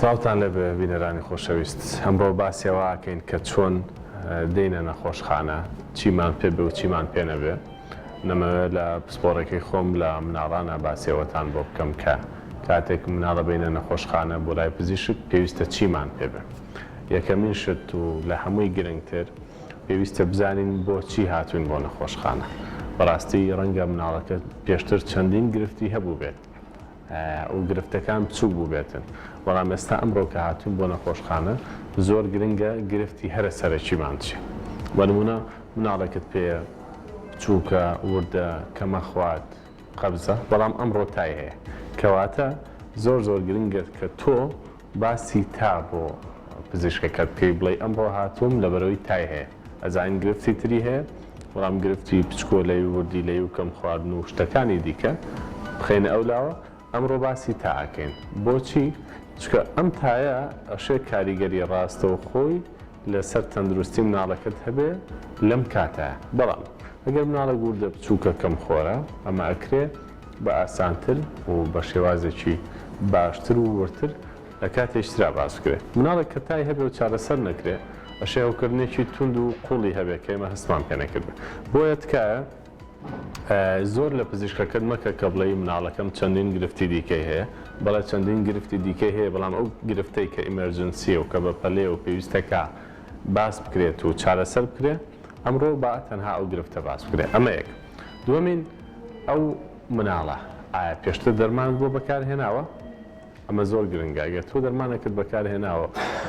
سڵاوتان لێبێ بینەرانی خۆشەویست، ئەمڕۆ باسی ئەوە ئەکەین کە چۆن دێینە نەخۆشخانە، چیمان پێ بێ و چیمان پێ نەبێ، نەمەوێ لە پسپۆڕیەکەی خۆم لە مناڵانە باسی ئەوەتان بۆ بکەم کە کاتێک مناڵ ئەبەینە نەخۆشخانە بۆ لای پزیشک پێویستە چیمان پێ بێ. یەکەمین شت و لە هەمووی گرنگتر پێویستە بزانین بۆ چی هاتووین بۆ نەخۆشخانە، بەڕاستی ڕەنگە مناڵەکەت پێشتر چەندین گرفتی هەبووبێت، و گرفتەکان بچوک بوبێتن بەڵام ئێستا ئەمڕۆ کە هاتوین بۆ نەخۆشخانە زۆر گرنگە گرفتی هەرە سەرەکیمان چیە بە نمونە مناڵێکت پێیە بچوکە وردە کەمە خوات قەبزە بەڵام ئەمڕۆ تای هەیە کەواتە زۆر زۆر گرنگە کە تۆ باسی تا بۆ پزیشکەکەت بکەی بڵێی ئەمڕۆ هاتووم لەبەرەوەی تای هەیە ئەزانین گرفتی تری هەیە بەڵام گرفتی پچکۆلەی و وردیلەی و کەم خواردن و شتەکانی دیکە بخەینە ئەو لاوە ئەمڕۆ باسی تا ئەکەین بۆچی چکە ئەم تایە ئەشێ کاریگەری ڕاستەوخۆی لەسەر تەندروستی مناڵەکەت هەبێ لەم کاتە بەڵام ئەگەر مناڵێک وردە بچووکە کەم خۆرە ئەمە ئەکرێ بە ئاسانتر و بە شێوازێکی باشتر و وردتر لە کاتی ئیشترا باس بکرێت. مناڵێک کە تای هەبێ و چارەسەر نەکرێ، ئەشێ هەوکردنێکی توند و قوڵی هەبێ کە ئێمە هەستمان پێ نەکردبێ. بۆیە تکایە زۆر لە پزیشکەکەت مەکە کە بڵێی مناڵەکەم چەندین گرفتی دیکەی هەیە. بەڵێ چەندین گرفتی دیکەی هەیە، بەڵام ئەو گرفتەی کە ئیمێرجنسییە و کە بە پەلەیە و پێویستە کە باس بکرێت و چارەسەر بکرێ، ئەمڕۆ با تەنها ئەو گرفتە باس بکرێت. ئەمە یەک. دووەمین، ئەو مناڵە ئایا پێشتر دەرمانت بۆ بەکار هێناوە؟ ئەمە زۆر گرنگە. ئەگەر تۆ دەرمانێکت بەکار هێناوە،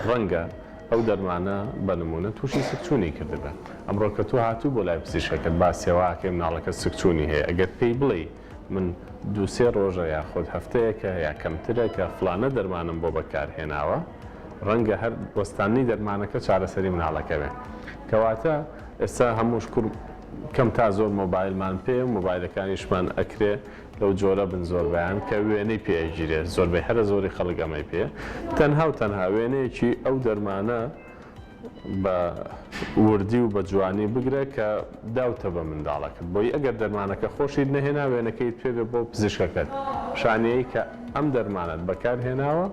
ڕەنگە ئەو دەرمانە بە نموونە تووشی سکچوونی کردبێت. ئەمڕۆ کە تۆ هاتووی بۆ لای پزیشکەکەت، با سێواکەی مناڵەکەت سکچوونی هەیە، ئەگەر پێی بڵێی، من دوو سێ ڕۆژە یاخود هەفتەیەکە یا کەمترە کە فڵانە دەرمانم بۆ بەکارهێناوە، ڕەنگە هەر وەستاندنی دەرمانەکە چارەسەری مناڵەکە بێ. کەواتە ئێستا هەموو شکور کەم تا زۆر مۆبایلمان پێیە و مۆبایلەکانیشمان ئەکرێ لەو جۆرە بن زۆربەیان کە وێنەی پێ ئەگیرێ، زۆربەی هەرە زۆری خەڵک ئەمەی پێیە، تەنها و تەنها وێنەیەکی ئەو دەرمانە بە وردی و بە جوانی بگرە کە داوتە بە منداڵەکەت بۆی ئەگەر دەرمانەکە خۆشیت نەهێنا وێنەکەیت پێ بێ بۆ پزیشکەکەت پیشانیەی کە ئەم دەرمانەت بەکار هێناوە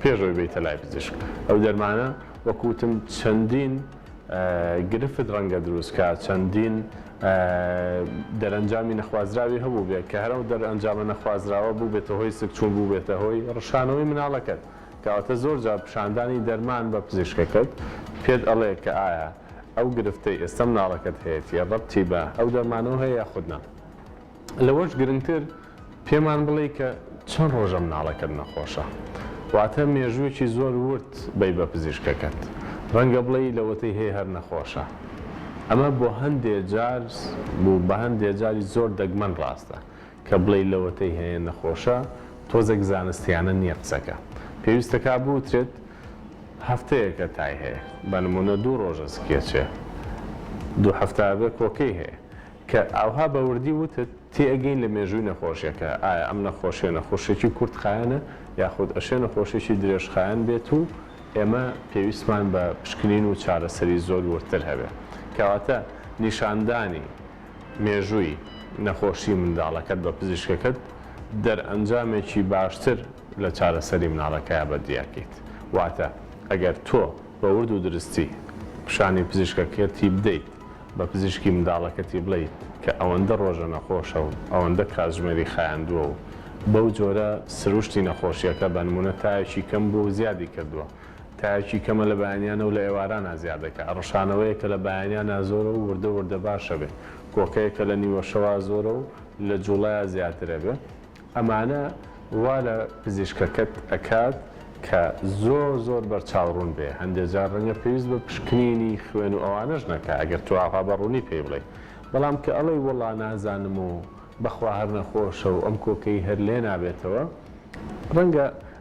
پێش ئەوەی بێیتە لای پزیشک ئەو دەرمانە وەکو وتم چەندین گرفت ڕەنگە دروست کا چەندین دەرەنجامی نەخوازراوی هەبوو بێ کە هەرەو دەرەنجامە نەخوازراوە بوو بێتە هۆی سکچوون بوو بێتە هۆی ڕشانەوەی مناڵەکەت. کەواتە زۆر جار پیشاندانی دەرمان بە پزیشکەکەت پێت ئەڵێ کە ئایا ئەو گرفتەی ئێستا مناڵەکەت هەیەتی ڕەبتی بە ئەو دەرمانەوە هەیە یاخود نا لەوەش گرنگتر پێمان بڵێی کە چەند ڕۆژە مناڵەکەت نەخۆشە واتە مێژووێکی زۆر ورد بەی بە پزیشکەکەت ڕەنگە بڵێی لەوەتەی هەیە هەر نەخۆشە ئەمە بۆ هەندێ جار و بە هەندێ جاری زۆر دەگمەن ڕاستە کە بڵێی لەوەتەی هەیە نەخۆشە تۆزێک زانستیانە نیە قسەکە پێویستە کا بوترێت هەفتەیەکە تای هەیە بە نمونە دوو ڕۆژە سکێچێ دوو هەفتە ئەبێ کۆکەی هەیە کە ئاوها بە وردی وتت تێئەگەین لە مێژووی نەخۆشیەکە ئایا ئەم نەخۆشیە نەخۆشێکی کورت خایەنە یاخود ئەشێ نەخۆشێکی درێژ خایەن بێت و ئێمە پێویستمان بە پشکنین و چارەسەری زۆر وردتر هەبێ کەواتە نیشاندانی مێژووی نەخۆشی منداڵەکەت بە پزیشکەکەت دەرئەنجامێکی باشتر لە چارەسەری مناڵەکەیا بە دیاکەیت واتە ئەگەر تۆ بە ورد و درستی پشانی پزیشکەکەتی بدەیت بە پزیشکی منداڵەکەتی بڵێی کە ئەوەندە ڕۆژە نەخۆشە و ئەوەندە کاتژمێری خایاندووە و بەو جۆرە سروشتی نەخۆشیەکە بەنمونە تاێکی کەم بووە و زیادی کردووە تایەکی کەمە لە بەیانیانە و لە ئێوارانا زیادەکە، ڕشانەوەیە کە لە بەیانیانا زۆرە و وردە وردە باشەبێ، کۆکەیە کە لە نیوەشەوا زۆرە و لە جوڵەیا زیاترەبێ، ئەمانە وا لە پزیشکەکەت ئەکات کە زۆر زۆر بەرچاو ڕوون بێ، هەندێ جار ڕەنگە پێویست بە پشکنینی خوێن و ئەوانەش نەکا ئەگەر تۆ ئاوا بە ڕوونی پێی بڵێی، بەڵام کە ئەڵێی وەڵا نازانم و بەخوا هەر نەخۆشە و ئەم کۆکەی هەر لێ نابێتەوە ڕەنگە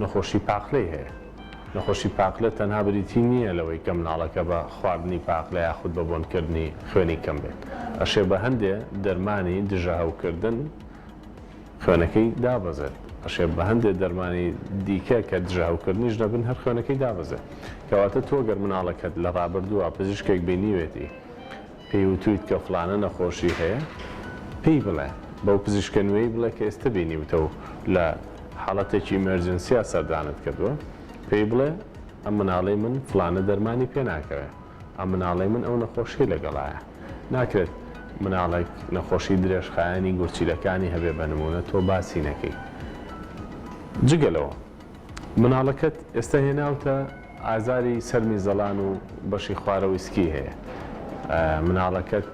نەخۆشی پاقلەی هەیە. نەخۆشی پاقلە تەنها بریتی نییە لەوەی کە مناڵەکە بە خواردنی پاقلە یاخود بە بۆنکردنی خوێنی کەم بێت، ئەشێ بە هەندێ دەرمانی دژە هەوکردن خوێنەکەی دابەزێت، ئەشێ بە هەندێ دەرمانی دیکە کە دژە هەوکردنیش نەبن هەر خوێنەکەی دابەزێت. کەواتە تۆ گەر مناڵەکەت لە رابردووە پزیشکێک بینیوێتی پێی وتویت کە فڵانە نەخۆشی هەیە پێی بڵێ، بەو پزیشکە نوێی بڵێ کە ئێستە بینیوتە و لە حاڵەتێکی ئیمێرجنسیا سەردانت کردووە، پێی بڵێ ئەم مناڵەی من فڵانە دەرمانی پێ ناکەوێ، ئەم مناڵەی من ئەو نەخۆشیەی لەگەڵایە. ناکرێت مناڵێک نەخۆشی درێژخایەنی گورچیلەکانی هەبێ بە نموونە تۆ باسی نەکەی. جگە لەوە. مناڵەکەت ئێستا هێناوتە ئازاری سەرمی زەڵان و بەشی خوارەوەی سکی هەیە مناڵەکەت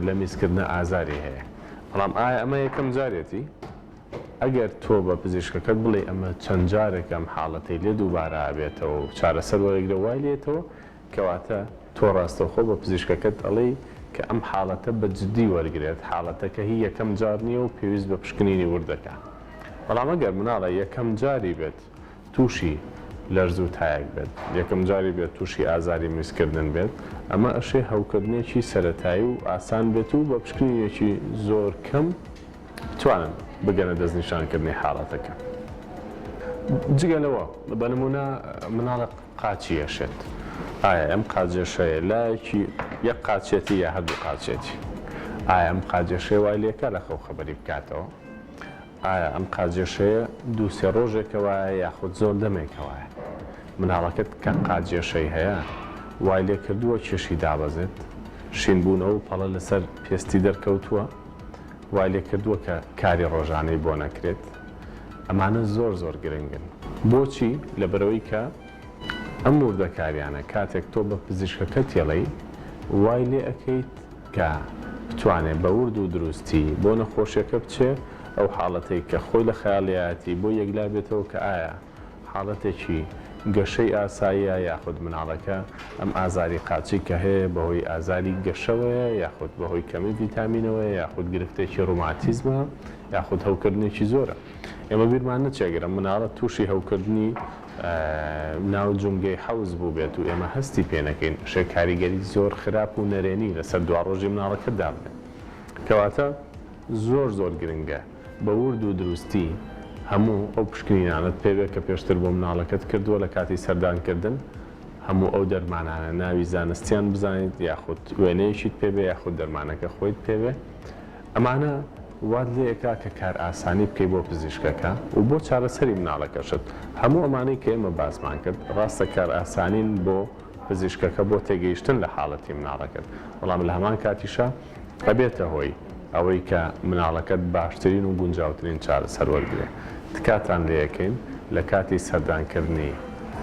لە میزکردنە ئازاری هەیە بەڵام ئایا ئەمە یەکەم جارێتی ئەگەر تۆ بە پزیشکەکەت بڵێی ئەمە چەند جارێکە ئەم حاڵەتەی لێ دووبارە ئەبێتەوە و چارەسەر وەرەگرە وای لێتەوە کەواتە تۆ ڕاستەوخۆ بە پزیشکەکەت ئەڵێی کە ئەم حاڵەتە بە جدی وەرگرێت، حاڵەتەکە هی یەکەم جار نییە و پێویست بە پشکنینی ورد دەکا. بەڵام ئەگەر مناڵە یەکەم جاری بێت تووشی لەرز و تایەک بێت، یەکەم جاری بێت تووشی ئازاری میزکردن بێت، ئەمە ئەشێ هەوکردنێکی سەرەتایی و ئاسان بێت و بە پشکنینێکی زۆر کەم بتوانن بگەنە دەستنیشانکردنی حاڵەتەکە. جگە لەوە بە نموونە مناڵە. قاچی ئەشێت ئایا ئەم قاجەشەیە لایەکی یەک قاچێتی یا هەردوو قاچێتی ئایا ئەم قاجەشێ وای لێکە لە خەو خەبەری بکاتەوە ئایا ئەم قاجەشەیە دوو سێ ڕۆژێکەوەە یاخود زۆر دەمێکەوەە مناڵەکەت کە قاجێشەی هەیە وای لێ کردووە کێشی دابەزێت شینبوونەوە پەڵە لەسەر پێستی دەرکەوتووە وای لێ کردووە کە کاری ڕۆژانەی بۆ نەکرێت ئەمانە زۆر زۆر گرنگن. بۆچی؟ لەبەرئەوەی کە ئەم وردەکاریانە کاتێک تۆ بە پزیشکەکە تێڵێی وای لێ ئەکەیت کە بتوانێ بە ورد و دروستی بۆ نەخۆشیەکە بچێ ئەو حاڵەتەی کە خۆی لە خەیاڵیایەتی بۆی یەکلا بێتەوە کە ئایا حاڵەتێکی گەشەی ئاساییە یاخود مناڵەکە ئەم ئازاری قاچی کە هەیە بەهۆی ئازاری گەشەوەیە یاخود بەهۆی کەمی ڤیتامینەوەیە یاخود گرفتێکی ڕوماتیزمە یاخود هەوکردنێکی زۆرە ئێمە بیرمان نەچێ گەر مناڵە تووشی هەوکردنی ناو جومگەی حەوز بووبێت و ئێمە هەستی پێ نەکەین ئەشێ کاریگەری زۆر خراپ و نەرێنی لەسەر دواڕۆژی مناڵەکەدا بێت کەواتە زۆر زۆر گرنگە بە ورد و دروستی هەموو ئەو پشکنینانەت پێ بێت کە پێشتر بۆ مناڵەکەت کردووە لە کاتی سەردان کردن هەموو ئەو دەرمانانە ناوی زانستیان بزانیت یاخود وێنەیەکیت پێ بێ یاخود دەرمانەکە خۆیت پێ بێ ئەمانە وات لێ ئەکا کە کار ئاسانی بکەی بۆ پزیشکەکە و بۆ چارەسەری مناڵەکەشت هەموو ئەمانەی کە ئێمە باسمان کرد ڕاستە کار ئاسانین بۆ پزیشکەکە بۆ تێگەیشتن لە حاڵەتی مناڵەکەت بەڵام لە هەمان کاتیشا ئەبێتە هۆی ئەوەی کە مناڵەکەت باشترین و گونجاوترین چارەسەر وەرگرێ تکاتان لێەکەین لە کاتی سەردان کردنی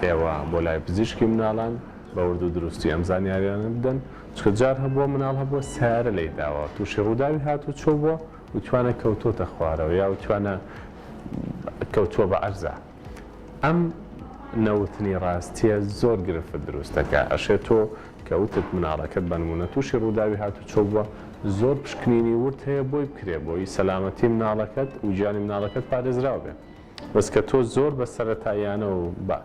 ئێوە بۆ لای پزیشکی مناڵان بە وردو دروستی ئەم زانیاریانە بدەن چونکە جار هەبوە مناڵ هەبوە سەیارە لێی داوە توشی ڕوداوی هاتو چۆ بوە وتوانە کەوتۆتە خوارەوە یا وتوانە کەوتوە بە عەرزا. ئەم نەوتنی ڕاستیە زۆر گرفت دروست دەکا ئەشێ تۆ کە وتت مناڵەکەت بە نمونە توشی ڕوداوی هاتوچۆ بوە زۆر پشکنینی ورد هەیە بۆی بکرێ بۆی سەلامەتی مناڵەکەت و گیانی مناڵەکەت پارێزراو بێ بەس کە تۆ زۆر بە سەرەتاییانە و بە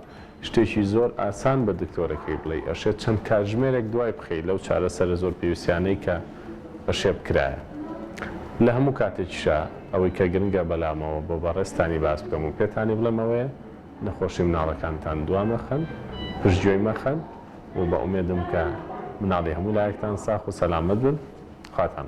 شتێکی زۆر ئاسان بە دکتۆرەکەی بڵێی ئەشێ چەند کاتژمێرێک دوای بخەی لەو چارەسەرە زۆر پێویستیانەی کە پەشێب کرایە لە هەموو کاتێکیشا ئەوەی کە گرنگە بەلامەوە بۆ بەڕێزتانی باس بکەم و پێتانی بڵێم ئەوەیە نەخۆشی مناڵەکانتان دوا مەخەن پشت گوێی مەخەن و بە ئومێدم کە مناڵی هەموو لایەکتان ساخ و سەلامەت بن خواتان